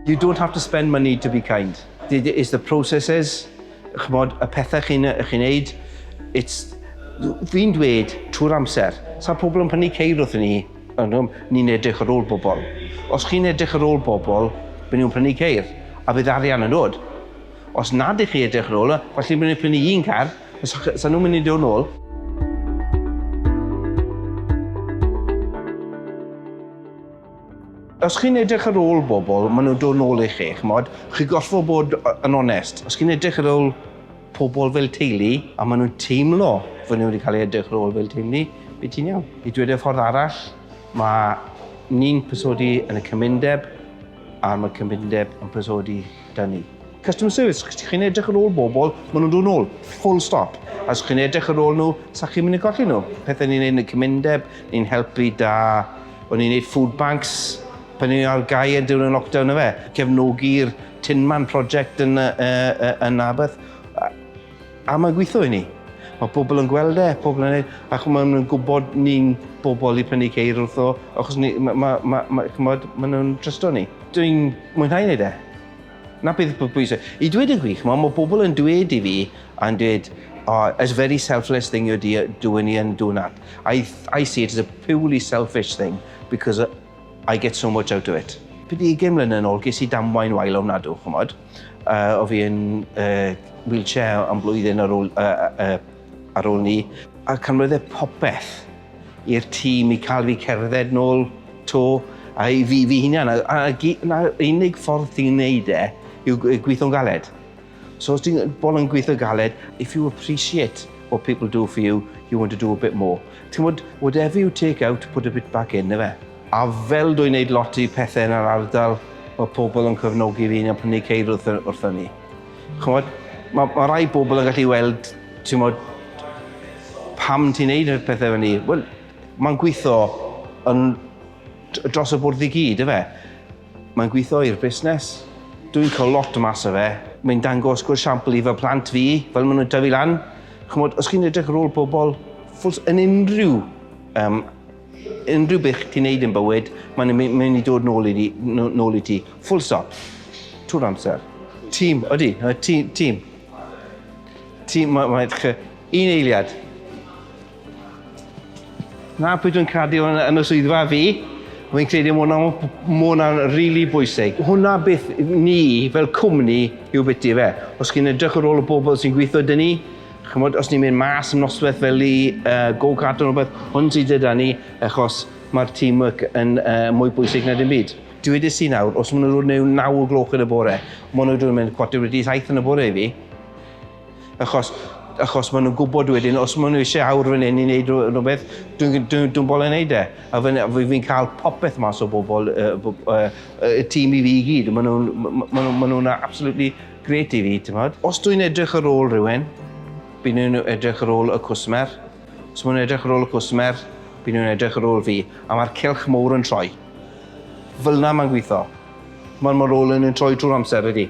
You don't have to spend money to be kind. It is the processes, chymod, y pethau chi'n chi wneud. It's, fi'n dweud trwy'r amser, sa'n pobl yn prynu ceir wrth ni, ni'n edrych ar ôl bobl. Os chi'n edrych ar ôl bobl, byd nhw'n prynu ceir, a bydd arian yn dod. Os nad ych chi edrych ar ôl, falle bydd nhw'n prynu un car, Sa nhw'n mynd i dod nôl? Os chi'n edrych ar ôl bobl, maen nhw'n dod nôl i chi, chymod? Chi gorfod bod yn onest. Os chi'n edrych ar ôl pobl fel teulu, a maen nhw'n teimlo fod nhw wedi cael ei edrych ar ôl fel teulu, bydd ti'n iawn. I dweud y ffordd arall, mae ni'n pysodi yn y cymundeb, a mae cymundeb yn pysodi da ni. Customer service, os chi'n edrych ar ôl bobl, maen nhw'n dod nôl, full stop. A os chi'n edrych ar ôl nhw, sa chi'n mynd i golli nhw. Pethau ni'n neud yn y cymundeb, ni'n helpu da, o'n ni'n neud food banks, pan ni ar gau yn diwrnod lockdown yfe, cefnogi'r Tinman project yn yy yy yn Narberth. A mae'n gweithio i ni. Mae pobl yn gweld e, pobl yn ei... Ac maen nhw'n gwybod ni'n bobl i prynu ceir wrtho, achos ni... ma- ma- ma- ma- ch'mod, maen nhw'n trysto ni. Dwi'n mwynhau wneud e. 'Na beth sy'n pwysig. I dweud y gwir, ch'mod, mae pobl yn dweud i fi, yn dweud, Oh, it's a very selfless thing you're dea- doing here and doing that. I th- I see it as a purely selfish thing, because I get so much out of it. Pryd ugain mlynedd yn ôl, ges i damwain wael ofnadw, ch'mod. Uh, o fi yn uh, wheelchair am blwyddyn ar ôl, uh, uh, ar ôl ni. A canwydde popeth i'r tîm i cael fi cerdded nôl to a i fi, fi hunan. A, a, a unig ffordd ti'n neud e yw gweithio'n galed. So os ti'n bol yn gweithio galed, if you appreciate what people do for you, you want to do a bit more. Ti'n gwybod, whatever you take out, put a bit back in, efe? A fel dwi'n neud lot i pethe yn yr ardal, ma' pobl yn cefnogi fi a prynu ceir wrth yy wrtha ni. Ch'mod, ma' ma' rai bobl yn gallu weld, t'mod, pam ti'n neud y pethe fynny. Wel, ma'n gwitho yn d- dros y bwrdd i gyd yfe? Mae'n gwitho i'r busnes. Dwi'n ca'l lot mas o fe. Mae'n dangos good shampl i fy plant fi, fel ma' nw'n tyfu lan. Ch'mod, os chi'n edrych ar ôl pobl, ffwls- yn unrhyw yym Unrhyw beth ti'n neud yn bywyd, mae'n mynd i dod nôl i ti, nôl i ti. Full stop. Trwy'r amser. Tîm, odi, tîm, tîm. Tîm, mae, mae, un eiliad. Na, pwy dwi'n credu yn, yn y swyddfa fi, fi'n credu mwna, mwna really bwysig. Hwna beth ni fel cwmni yw beth i fe. Os chi'n edrych ar ôl y bobl sy'n gweithio dyn ni, Chimod, os ni'n mynd mas yn noswaith fel i uh, go-kart yn rhywbeth, hwn sydd gyda ni, achos mae'r teamwork yn uh, mwy bwysig na dim byd. Dwi wedi si nawr, os maen nhw'n rhywun naw o gloch yn y bore, maen nhw'n rhywun mynd cwarter wedi saith yn y bore i fi. Achos, achos maen nhw'n gwybod wedyn, os maen nhw eisiau awr fan hyn i wneud rhywbeth, dwi'n dwi, dwi bol yn wneud e. A fi'n fi cael popeth mas o bobl, y uh, uh, uh, tîm i fi i gyd, maen nhw'n ma nhw, ma nhw absolutely Grêt i fi, timod. Os dwi'n edrych ar ôl rhywun, byn nhw'n edrych ar ôl y cwsmer. Os maen nhw'n edrych ar ôl y cwsmer, byn nhw'n edrych ar ôl fi. A mae'r cylch mowr yn troi. Fel na mae'n gweithio. Mae'r ma rôl yn troi drwy'r amser ydy.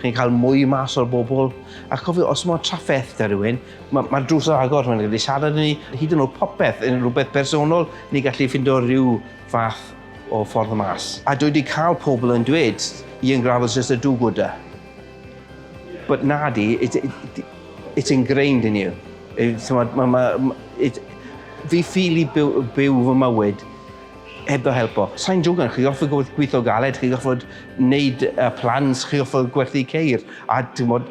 Chi'n cael mwy mas o'r bobl. A chofio, os mae trafferth da rhywun, mae'r ma drws yn agor, mae'n gallu siarad ni, hyd yn oed popeth, yn rhywbeth personol, ni'n gallu ffindo rhyw fath o ffordd y mas. A dwi wedi cael pobl yn dweud, Ian Gravel's just a do-gooder. But nadi, it, it, it's ingrained in you. It, ma, ma, it, fi ffili byw, byw fy mywyd heb ddo helpo. Sa'n jogan, chi offer gwrth gweithio galed, chi offer wneud uh, plans, chi offer gwerthu ceir, a ti'n bod,